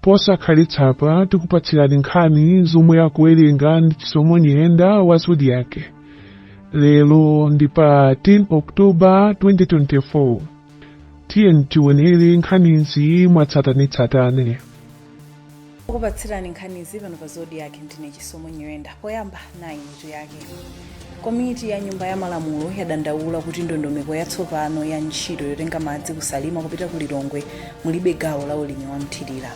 Posakhalitsapa tikupatsirani nkhani zomwe akuwerenga ndi Chisomo Nyirenda wa Zodiak. Lero ndi pa 10 October 2024. Tiyeni tionere nkhanizi mwatsatanetsatane. Kukupatsirani nkhanizi pano pa Zodiak ndine Chisomo Nyirenda. Poyamba nayi mitu yake. komiti ya nyumba ya malamulo yadandaula kuti ndondomeko yatsopano ya ntchito yotenga madzi ku Salima kupita ku Lilongwe mulibe gawo la ulimi wa mthirira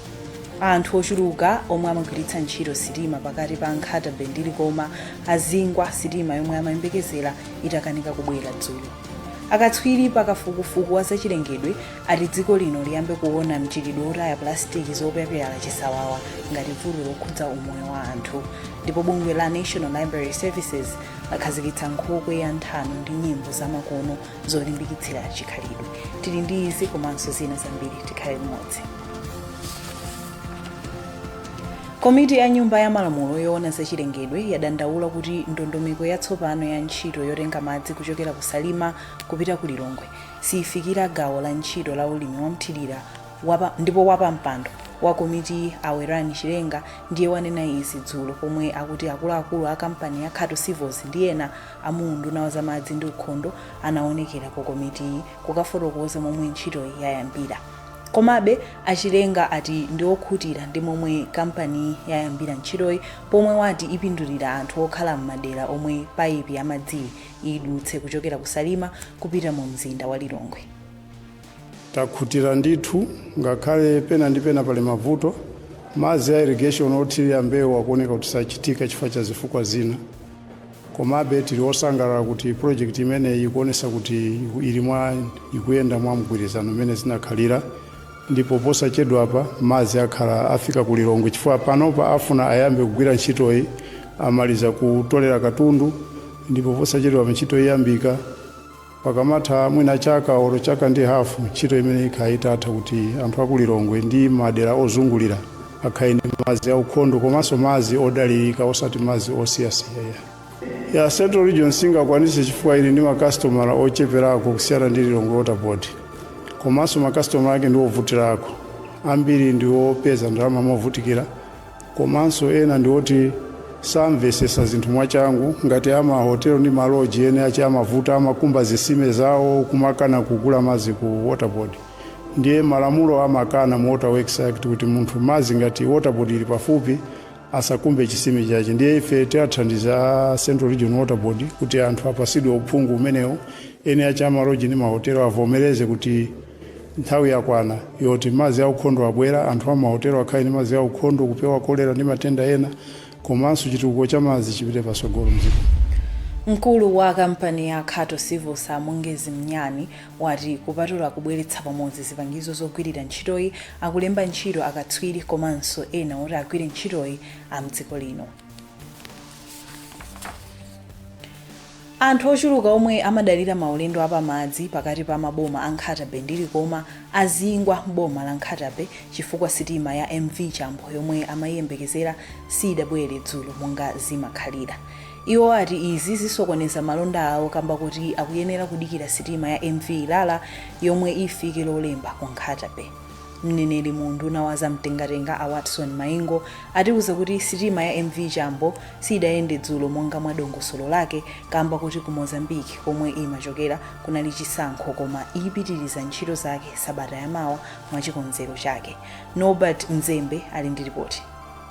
anthu ochuluka omwe amagwiritsa ntchito sitima pakati pa Nkhata Bay ndi Likoma azingwa sitima yomwe amayembekezera itakanika kubwera dzulo akatswiri pakafukufuku wa zachilengedwe ati dziko lino liyambe kuona mchitidwe wotaya pulasitiki zopyapyala chisawawa ngati vuto lokhudza umoyo wa anthu ndipo bungwe la national library services lakhazikitsa nkhokwe ya nthano ndi nyimbo za makolo zolimbikitsira chikhalidwe tili ndi izi komanso zina zambiri tikhale limodzi komiti ya nyumba ya malamulo yoona zachilengedwe yadandaula kuti ndondomeko yatsopano ya ntchito yotenga madzi kuchokera ku salima kupita ku lilongwe sifikira gawo la ntchito la ulimi wa mthilira ndipo wapampando wa komitiyi a Werani Chilenga ndiye wanena izi dzulo pomwe akuti akuluakulu a kampani ya Khato Civils ndi ena a mu unduna wa zamadzi ndi ukhondo anaonekera ku komitiyi kukafotokoza momwe ntchitoyi yayambira. Komabe, a Chilenga ati ndi okhutira ndi momwe kampaniyi yayambira ntchitoyi pomwe wati ipindulira anthu okhala m'madera omwe payipi ya madziyi idutse kuchokera ku Salima kupita mu mzinda wa Lilongwe. takhutira ndithu ngakhale pena ndi pena pali mavuto madzi a irrigation othirira mbewu akuoneka kuti sachitika chifukwa cha zifukwa zina komabe tili osangalala kuti project imeneyi ikuonesa kuti ili mwa ikuyenda mwa mgwirizano umene zinakhalira ndipo posachedwapa madzi akhala afika ku lilongwe chifukwa panopa afuna ayambe kugwira ntchitoyi amaliza kutolera katundu ndipo posachedwapa ntchito iyambika pakamatha mwina chaka olo chaka ndi hafu ntchito imeneyi ikhala itatha kuti anthu aku lilongwe ndi madera ozungulira akhale ndi madzi aukhondo komanso madzi odalirika osati madzi osiyasiyayi a central region singakwanise chifukwa ili ndi makasitomala ocheperako kusiyana ndi lilongwe water board komanso makasitomala ake ndi ovutirako ambiri ndi opeza ndalama movutikira komanso ena ndi oti samvesesa zinthu mwachangu ngati amahotelo ndi maloji ene ache amavuta amakumba zisime zawo kumakana kugula mazi ku waterboard ndiye malamulo amakana mu water works act kuti munthu mazi ngati waterboard ili pafupi asakumbe chisime chache ndiye ife tiathandiza a central region waterboard kuti anthu apasidwe uphungu umenewo ene ache amaloji ndi mahotelo avomereze kuti Nthawi yakwana yoti madzi aukhondo abwera, anthu a m'mahotelo akhale ndi madzi aukhondo kupewa kolera ndi matenda ena komanso chitukuko cha madzi chipite patsogolo m'dziko muno. Mkulu wa kampani ya Khato Civils a Mongezi Mnyani wati kupatula kubweretsa pamodzi zipangizo zogwirira ntchitoyi, akulemba ntchito akatswiri komanso ena oti agwire ntchitoyi a m'dziko lino. Anthu ochuluka omwe amadalira maulendo a pamadzi pakati pa maboma a Nkhata Bay ndi Likoma azingwa m'boma la Nkhata Bay chifukwa sitima ya MV Chambo yomwe amayiyembekezera siyidabwere dzulo monga zimakhalira. Iwo ati izi zisokoneza malonda awo kamba koti akuyenera kudikira sitima ya MV Ilala yomwe ifike lolemba ku Nkhata Bay. Mneneri mu unduna wa za mtengatenga a Watson Maingo atiuza kuti sitima ya MV Chambo siidayende dzulo monga mwa dongosolo lake kamba koti ku Mozambique komwe imachokera kunali chisankho koma ipitiliza ntchito zake sabata yamawa mwachikonzero chake. Norbert Mzembe ali ndi lipoti.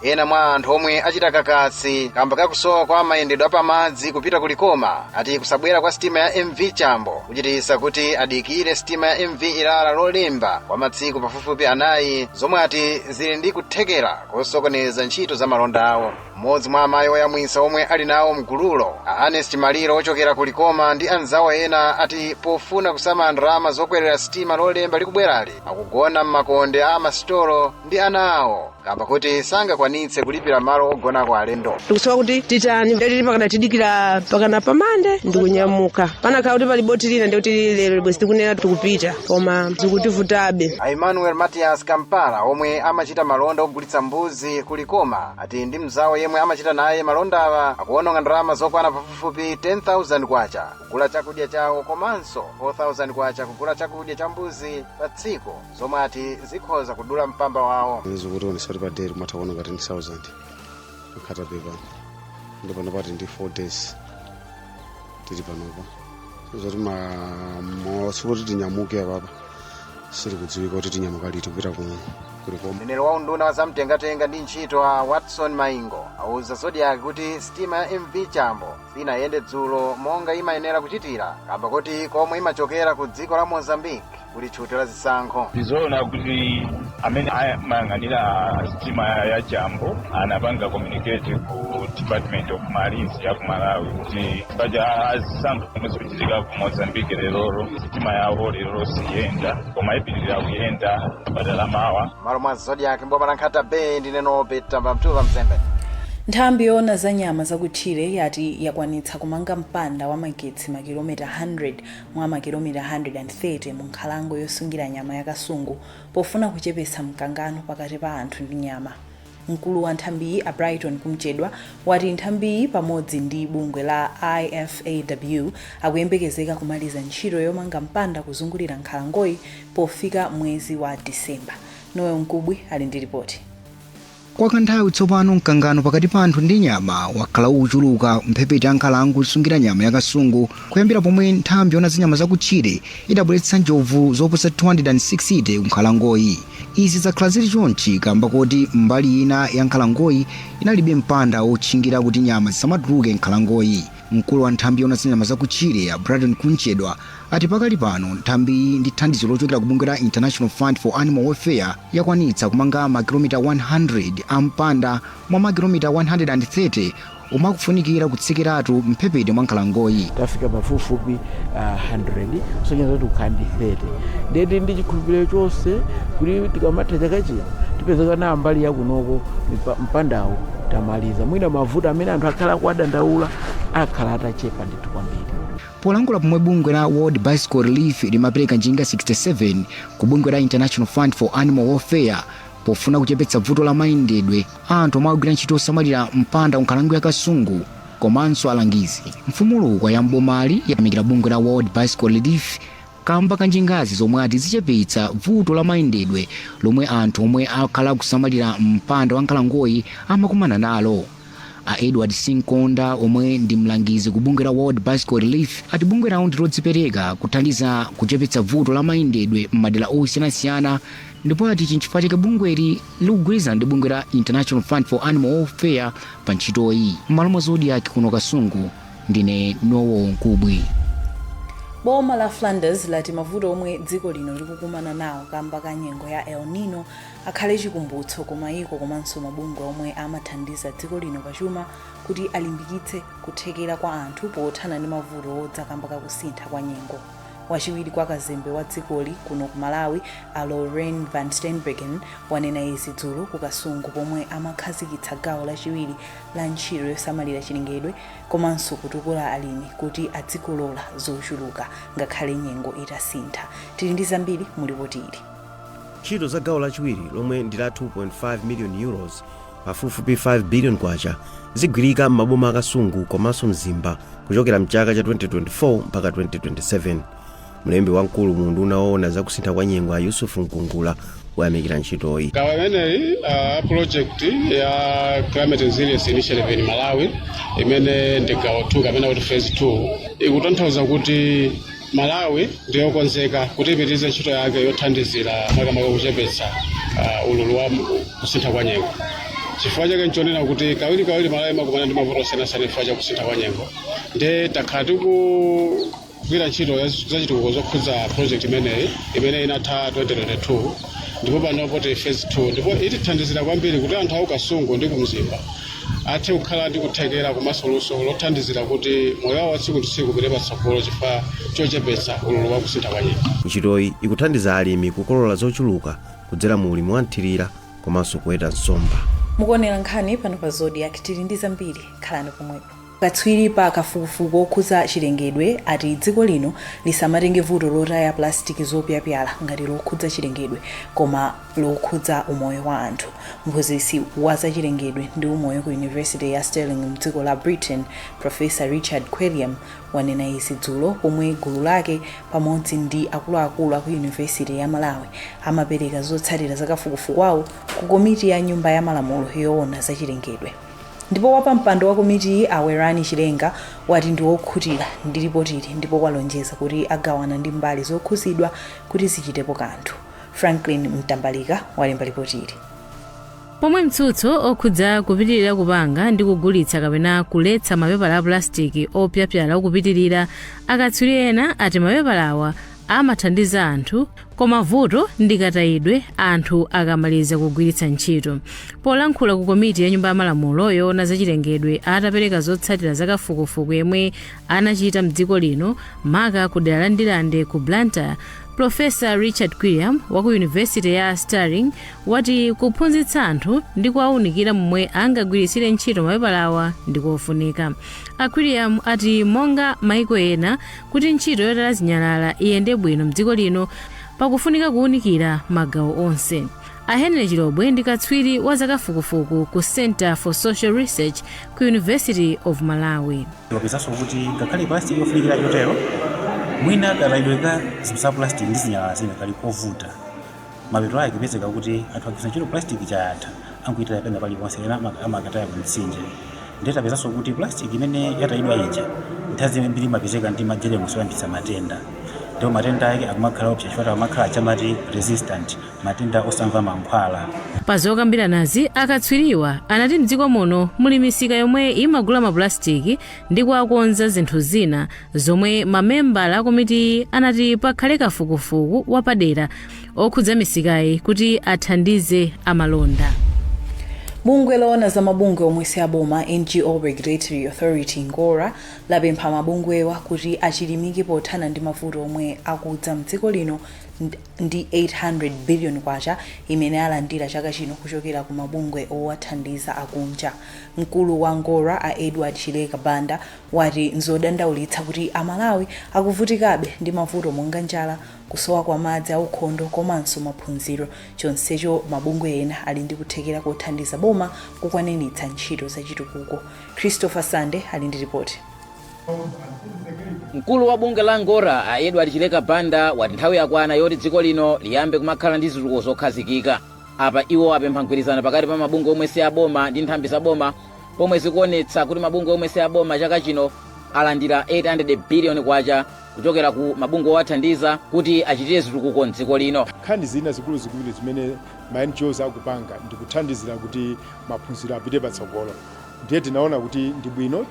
ena mwa anthu omwe achita kakasi kamba kakusowa kwa mayendedwe apamadzi kupita ku likoma ati kusabwera kwa sitima ya mv chambo kuchititsa kuti adikire sitima ya mv ilala lolemba kwa masiku pafupifupi anayi zomwe ati zili ndi kuthekera kosokoneza ntchito za malonda awo M'modzi mwa amayi oyamwitsa omwe ali nawo mgululo, a Anest Maliro ochokera ku Likoma ndi anzawo ena ati pofuna kusamala ndalama zokwelera sitima lolemba likubwelari, akugona m'makonde a masitolo ndi ana awo kamba koti sangakwanitse kulipira malo ogonako alendo. tikusowa kuti titani ndeti pakana tidikire pakana pamande ndikunyamuka panakhala kuti pali boti lina ndikuti lero bwezi tikunena tikupita koma zikutivutabe A Emmanuel Matias Kampala omwe amachita malonda ogulitsa mbuzi ku Likoma ati ndi mzawo yemwe amachita naye malondawa akuononga ndalama zokwana pafupifupi 10,000 kwacha kugula chakudya chawo komanso 4,000 kwacha kugula chakudya cha mbuzi pa tsiku zomwe ati zikhoza kudula mpamba wawo zikutionesa kuti pa date kumatha kuononga 10,000 Nkhata Bay pano ndipo napati ndi 4 days tili panopa zoti ma- ma- tsiku loti tinyamuke apapa silikudziwika kuti tinyamuka liti kupita ku likoma mneneri wa unduna wa zamtengatenga ndi ntchito a watson maingo auza zodiak kuti sitima ya mv chambo sinayende dzulo monga imayenera kuchitira kamba kuti komwe imachokera ku dziko la mozambique kuli tchuti la zisankho ndizoona kuti amene amayang'anira sitima ya chambo anapanga communicate ku department of marines ya ku malawi kuti paja azisankho zomwe zikuchitika ku mozambique lerolo sitima yawo lerolo siyenda koma ipitirira kuyenda sabata la mawa malo mwa zodiak mboma la nkhata bay ndine norbert ambamtuva mzembe nthambi yoona za nyama zakutchire yati yakwanitsa kumanga mpanda wa magetsi makilomita 100 mwa makilomita 130 mu nkhalango yosungira nyama ya Kasungu pofuna kuchepetsa mkangano pakati pa anthu ndi nyama. Mkulu wa nthambiyi a Brighton Kumchedwa wati nthambiyi pamodzi ndi bungwe la IFAW akuyembekezeka kumaliza ntchito yomanga mpanda kuzungulira nkhalangoyi pofika mwezi wa December. Noel Mkubwi ali ndi lipoti. Kwa kanthawi tsopano, mkangano pakati pa anthu ndi nyama wakhala ukuchuluka m'mphepete mwa nkhalango yosungira nyama ya Kasungu kuyambira pomwe nthambi yoona za nyama zakutchire idabweretsa njovu zoposa 260 kunkhalangoyi. Izi zakhala zili chonchi kamba koti mbali ina ya nkhalangoyi inalibe mpanda wotchingira kuti nyama zisamatuluke m'nkhalangoyi. Mkulu wa nthambi yoona za nyama zakutchire, a Brighton Kumchedwa, ati pakali pano nthambiyi ndi thandizo lochokera ku bungwe la International Fund for Animal Welfare yakwanitsa kumanga makilomita 100 a mpanda mwa makilomita 130 omwe akufunikira kutsekeratu m'mphepete mwa nkhalangoyi. tafika pafupifupi ah, 100 kusonyeza kuti kukhala ndi 30 ndiye tili ndi chikhulupiriro chonse kuti tikamatha chaka chino tipezeka nawo mbali yakunoko mipa- mpandawo tamaliza. Mwina mavuto amene anthu akhala akuwadandaula akhala atachepa ndithu kwambiri. polankhula pomwe bungwe la world bicycle relief limapereka njinga 67 ku bungwe la international fund for animal welfare pofuna kuchepetsa vuto la mayendedwe a anthu omwe akugwira ntchito yosamalira mpanda ku nkhalango ya kasungu komanso alangizi mfumu lukwa ya m'bomali yayamikira bungwe la world bicycle relief kaamba ka njingazi zomwe ati zichepetsa vuto la mayendedwe lomwe anthu omwe akhala akusamalira mpanda wa nkhalangoyi amakumana nalo. A Edward Sinkonda omwe ndi mlangizi ku bungwe la World Bicycle Relief ati bungwe lawo ndi lodzipereka kuthandiza kuchepetsa vuto la mayendedwe m'madera osiyanasiyana ndipo ati ichi nchifukwa chake bungweli likugwirizana ndi bungwe la International Fund for Animal Welfare pa ntchitoyi. M'malo mwa Zodiak kuno Kasungu, Ndine Noel Mkubwi. Boma la Flanders lati mavuto omwe dziko lino likukumana nawo kamba ka nyengo ya El Nino akhale chikumbutso ku mayiko komanso mabungwe omwe amathandiza dziko lino pa chuma kuti alimbikitse kuthekera kwa anthu pothana ndi mavuto odza kamba ka kusintha kwa nyengo. Wachiwiri kwa kazembe wa dzikoli kuno ku Malawi, a Lorraine Van Steenbergen, wanena izi dzulo ku Kasungu pomwe amakhazikitsa gawo lachiwiri la ntchito yosamalira chilengedwe komanso kutukula alimi kuti adzikolola zochuluka ngakhale nyengo itasintha. Tili ndi zambiri mu lipoti ili. Ntchito za gawo lachiwiri, lomwe ndi la €2.5 miliyoni, pafupifupi K5 biliyoni, zigwirika m'maboma a Kasungu komanso Mzimba kuchokera m'chaka cha 2024 mpaka 2027. mlembi wamkulu mu unduna woona za kusintha kwa nyengo a yusufu mkungula wayamikira ntchitoyi gawo imeneyi uh, project ya climate resilience initiative in malawi imene ndi gawo 2 kapena kuti phase 2 ikutanthauza kuti malawi ndiyokonzeka kuti ipitirize ntchito yake yothandizira makamaka kuchepetsa uh, ululu wa kusintha kwa nyengo chifukwa chake nchonena kuti kawiri kawiri malawi amakumana ndi mavuto osiyanasiyana chifukwa cha kusintha kwa nyengo nde takhala tiku kugwira ntchito zachitukuko zokhudza project imeneyi imene inatha 2022 ndipo panopa tili phase 2 ndipo itithandizira kwambiri kuti anthu aku kasungu ndi kumzimba athe kukhala ndi kuthekera komanso luso lothandizira kuti moyo wawo watsiku ndi tsiku upite patsogolo chifukwa chochepetsa ululu wa kusintha kwa nyengo ntchitoyi ikuthandiza alimi kukolola zochuluka kudzera mu ulimi wamthirira komanso kuweta nsomba mukuonera nkhani pano pa zodiak tili ndi zambiri khalani pomwepo Katswiri pa kafukufuku wokhudza chilengedwe ati dziko lino lisamatenge vuto lotaya pulasitiki zopyapyala ngati lokhudza chilengedwe koma lokhudza umoyo wa anthu. Mphunzitsi wa za chilengedwe ndi umoyo ku university ya Stirling mdziko la Britain, Professor Richard Quilliam wanena izi dzulo pomwe gulu lake pamodzi ndi akuluakulu aku university ya Malawi amapereka zotsatira za kafukufuku wawo ku komiti ya nyumba ya malamulo yoona za chilengedwe. Ndipo wapampando wa komitiyi a Werani Chilenga wati ndi wokhutira ndi lipotili ndipo walonjeza kuti agawana ndi mbali zokhuzidwa kuti zichitepo kanthu. Franklin Mtambalika walemba lipotili. Pomwe mtsutso okhudza kupitilira kupanga ndi kugulitsa kapena kuletsa mapepala a pulasitiki opyapyala ukupitilira, akatswiri ena ati mapepalawa amathandiza anthu Koma vuto ndi katayidwe anthu akamaliza kugwiritsa ntchito. Polankhula ku komiti ya Nyumba ya Malamulo yoona za chilengedwe atapereka zotsatira za kafukufuku yemwe anachita m'dziko lino maka ku dera la Ndirande ku Blantyre, Pulofesa Richard Quilliam wa ku university ya Stirling wati kuphunzitsa anthu ndi kuwaunikira momwe angagwiritsire ntchito mapepalawa ndi kofunika. A Quilliam ati monga maiko ena, Kuti ntchito yotaya zinyalala iyende bwino m'dziko lino pakufunika kuunikira magawo onse. A Henry Chilobwe ndi katswiri wa zakafukufuku ku Centre for Social Research ku University of Malawi. Tapezanso kuti ngakhale plastic ndi yofunikira chotero, mwina katayidwe ka zinthu za plastic ndi zinyalala zina kali kovuta. Mapeto ake kupezeka kuti anthu agwiritsa ntchito plastic ija yatha angoitaya pena paliponse ena ama- amakataya ku mtsinje ndiye tapezanso kuti plastic imene yatayidwa ija nthawi zambiri imapezeka ndi majeremusi oyambitsa matenda ndipo matenda ake akumakhala oopsa chifukwa akumakhala chamati resistant matenda osamva mankhwala Pa zokambiranazi, akatswiriwa anati m'dziko muno muli misika yomwe imagula mapulasitiki ndi kuwakonza zinthu zina zomwe mamembala akomitiyi anati pakhale kafukufuku wapadera okhudza misikayi kuti athandize amalonda bungwe loona za mabungwe omwe si aboma ngo regulatory authority ngora lapempha mabungwewa kuti achilimike pothana ndi mavuto omwe akudza mdziko lino ndi 800 billion kwacha imene alandira chaka chino kuchokera ku mabungwe owathandiza akunja mkulu wa ngora a edward chileka banda wati n'zodandaulitsa kuti Amalawi akuvutikabe ndi mavuto monga njala, kusowa kwa madzi aukhondo komanso maphunziro chonsecho mabungwe ena ali ndi kuthekera kothandiza boma kukwaniritsa ntchito zachitukuko. Christopher Sande ali ndi lipoti. Mkulu wa bungwe la Ngora a Edward Chileka Banda wati nthawi yakwana yoti dziko lino liyambe kumakhala ndi zitukuko zokhazikika. Apa iwo apempha mgwirizano pakati pa mabungwe omwe si aboma ndi nthambi za boma pomwe zikuonetsa kuti mabungwe omwe si aboma chaka chino alandira 800 biliyoni kwacha kuchokera ku mabungwe owathandiza kuti achitire zitukuko mdziko lino nkhani zina zikuluzikulu zimene ma ngos akupanga ndi kuthandizira kuti maphunziro apite patsogolo ndiye tinaona kuti ndi bwino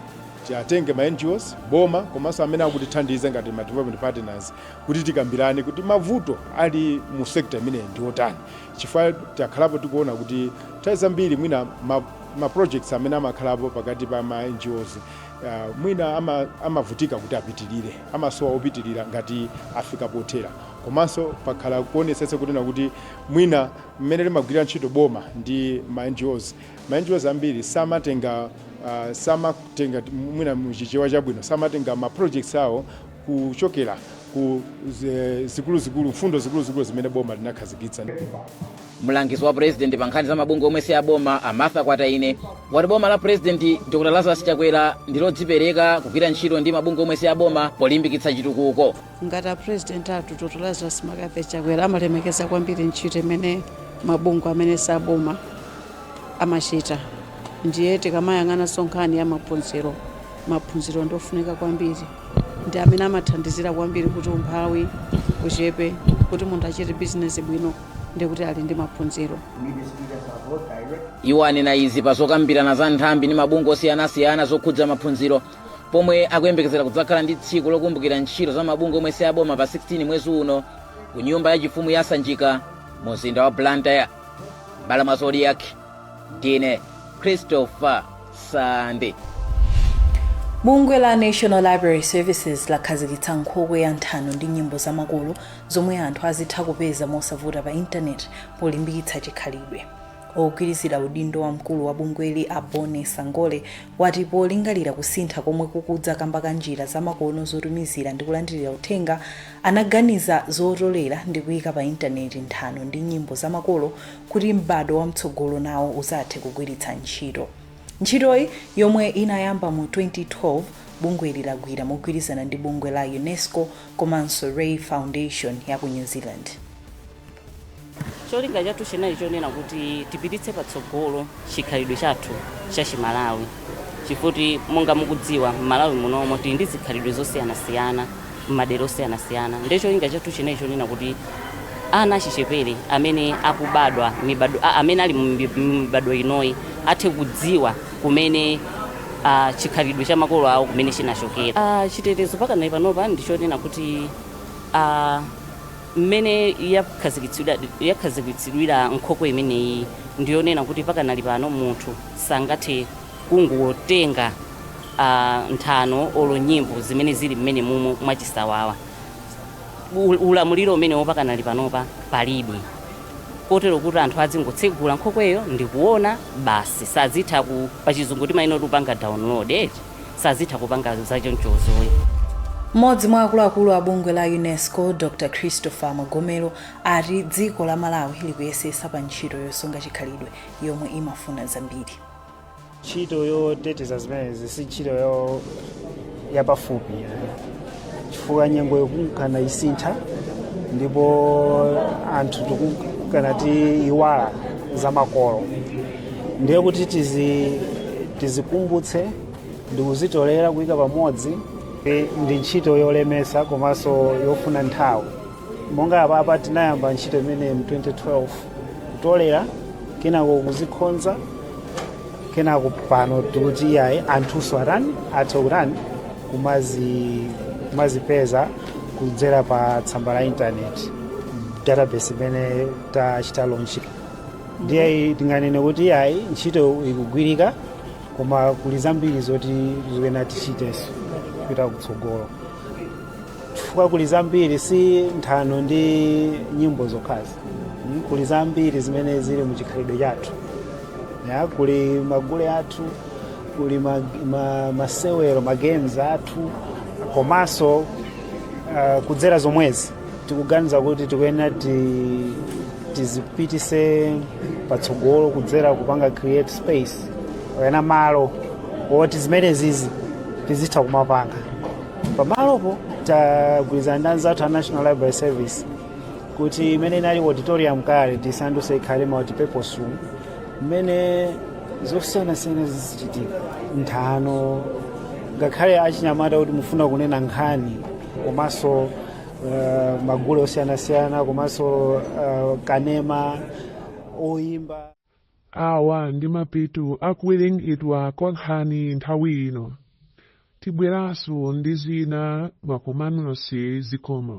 tiatenge ma ngos boma komanso amene akutithandiza ngati ma development partners kuti tikambirane kuti mavuto ali mu sekta imeneyi ndi otani chifukwa takhalapo tikuona kuti nthawi zambiri mwina ma ma projects amene amakhalapo pakati pa ma NGOs uh, mwina ama, amavutika kuti apitirire amasowa opitirira ngati afika pothera komanso pakhala kuonetsetsa kunena kuti mwina mmene limagwirira ntchito boma ndi ma NGOs ma NGOs ambiri samatenga uh, samatenga mwina muchichewa chabwino samatenga ma projects awo kuchokera ku zikuluzikulu mfundo zikuluzikulu zimene boma linakhazikitsa Mlangizi wa President pa nkhani za mabungwe omwe si aboma a Martha Kwataine wati boma la President Dr Lazarus Chakwera ndi lodzipereka kugwira ntchito ndi mabungwe omwe si aboma polimbikitsa chitukuko. ngati a president athu dotolo lazarus mccarthy chakwera amalemekeza kwambiri ntchito imene mabungwe amene saboma amachita ndiye tikamayang'ana so nkhani ya maphunziro maphunziro ndiofunika kwambiri ndi amene amathandizira kwambiri kuti umphawi uchepe kuti munthu achite bizinesi bwino ndiye kuti ali ndi maphunziro iwo anena izi pa zokambirana za nthambi ndi mabungwe osiyanasiyana zokhudza maphunziro pomwe akuyembekezera kudzakhala ndi tsiku lokumbukira ntchito za mabungwe omwe siaboma pa 16 mwezi uno ku nyumba yachifumu ya sanjika mu mzinda wa blantyre bala mwa zodiac Ndine Christopher Sande. bungwe la national library services lakhazikitsa nkhokwe ya nthano ndi nyimbo zamakolo zomwe anthu azitha kupeza mosavuta pa intaneti polimbikitsa chikhalidwe ogwirizira udindo wa mkulu wa bungweli a bone sangole wati polingalira kusintha komwe kukudza kamba ka njira zamakono zotumizira ndi kulandirira uthenga anaganiza zotolera ndi kuyika pa intaneti nthano ndi nyimbo zamakolo kuti m'badwo wamtsogolo nawo uzathe kugwiritsa ntchito. Ntchitoyi, yomwe inayamba mu 2012, bungweli lagwira mogwirizana ndi bungwe la Unesco komanso Rei Foundation ya ku New Zealand. Cholinga chathu chinali chonena kuti tipititse patsogolo chikhalidwe chathu cha chi Malawi chifukwa monga mukudziwa m'Malawi munomo tili ndi zikhalidwe zosiyanasiyana m'madera osiyanasiyana ndiye cholinga chathu chinali chonena kuti ana achichepere amene akubadwa mibadwo a- amene ali m'mibadwo inoyi athe kudziwa kumene ah, chikhalidwe cha makolo awo kumene chinachokera Ah, chitetezo pakanali panopa ndichonena kuti ah, Mmene yakhazikitsidwira nkhokwe imeneyi ndi yonena kuti pakanali pano munthu sangathe kungotenga nthano olo nyimbo zimene zili mmenemumu mwachisawawa. Ulamuliro umenewo pakanali panopa palibe kotero kuti anthu adzingotsegula nkhokweyo ndi kuona basi, sazitha ku, pachizungu timanena kuti kupanga download eti. sazitha kupanga zachonchozoyi Mmodzi mwa akuluakulu a bungwe la UNESCO Dr Christopher Magomero ati dziko la Malawi likuyesesa pa ntchito yosunga chikhalidwe yomwe imafuna zambiri. ntchito yoteteza zimenezi si ntchito yo- yapafupi chifukwa nyengo ikunka nisintha ndipo anthu tikunka natiiwala za makolo ndiye kuti tizi tizikumbutse ndikuzitolera kuyika pamodzi ndi ntchito yolemesa komanso yofuna nthawi monga apapa tinayamba ntchito imeneyi mu 2012 kutolera kenako kuzikhonza kenako pano tikuti iyayi anthunso atani athe kutani kumazi kumazipeza kudzera pa tsamba la intaneti database imene tachita launch ndiye tinganene kuti iyayi ntchito ikugwirika koma kuli zambiri zoti zikuyenera tichitenso kupita kutsogolo chifukwa kuli zambiri si nthano ndi nyimbo zokhazi Mm, kuli zambiri zimene zili mu chikhalidwe chathu a kuli magule athu kuli ma, ma, masewero magames athu komanso uh, kudzera zomwezi tikuganiza kuti tikuyenera ti, tizipitise patsogolo kudzera kupanga create space kapena malo oti zimenezizi tizitha kumapanga pamalopo tagwirizana ndi anzathu a national library service kuti imene inali auditorium kale tisanduse ikhale multipurpose room momwe zosiyanasiyana zizichitika nthano ngakhale achinyamata kuti mufuna kunena nkhani komanso uh, magule osiyanasiyana komanso uh, kanema oyimba Awa ndi mapeto a kuwerengedwa kwa nkhani nthawi ino. Tibweranso ndi zina mwakumanonso zikomo.